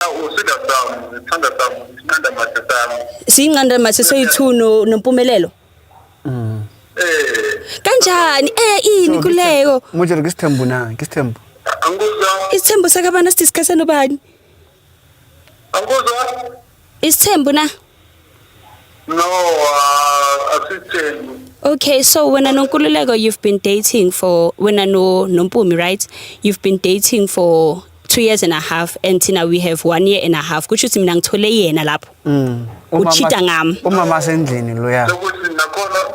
Usida sami, sithanda sami, sinqanda mathe sami. Sinqanda mathe soyi-2 no nompumelelo. Mm. Eh. Kanjani? Eh ini kuleko? Manje ngisithembu na, ngisithembu. Angikuzwa. Isithembu sakabana sithi sikhasana ubani? Angikuzwa. Isithembu na? No, uh, asithembi. Okay, so wena noNkululeko you've been dating for wena no noMpumi, right? You've been dating for two years and a half and thina we have one year and a half. Kusho ukuthi mina ngithole yena lapho. Mm. Uchita ngami. Umama sendlini loya. Lokuthi nakhona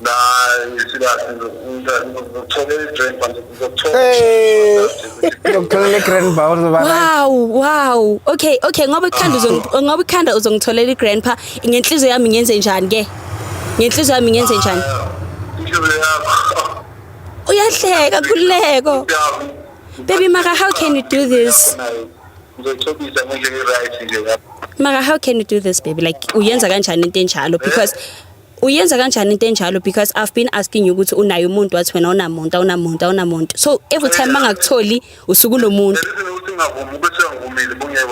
la isilathi ngizokuthola i-grand bar ngizokuthola Eh. Ngokuthola le grand bar uzoba right. Wow, wow. Okay, okay, ngoba ikhanda uzong ngoba ikhanda uzongitholela igrandpa ngenhliziyo yami ngenze njani ke? Ngenhliziyo yami ngenze njani? inhliziyo yakho Uyahleka kuleko. Yazi, Baby Mara, how can you do this? nayo ngizothobisa ngendlela e-right nje lapho Mara, how can you do this baby? Like uyenza kanjani into enjalo because uyenza kanjani into enjalo because i've been asking you ukuthi unaye umuntu wathi wena unamuntu awunamuntu awunamuntu so every time mangakutholi usuke unomuntu singavumi ukuthi angivumile bungeke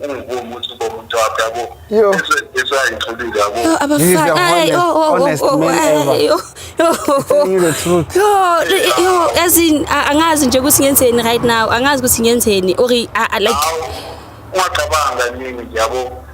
ungivumi ukuthi uba umuntu wakho yabo esayitholile yabo yo abafana hayi oh oh oh oh yo yo as in angazi nje ukuthi ngenzeni right now angazi ukuthi ngenzeni or like ungacabanga nini yabo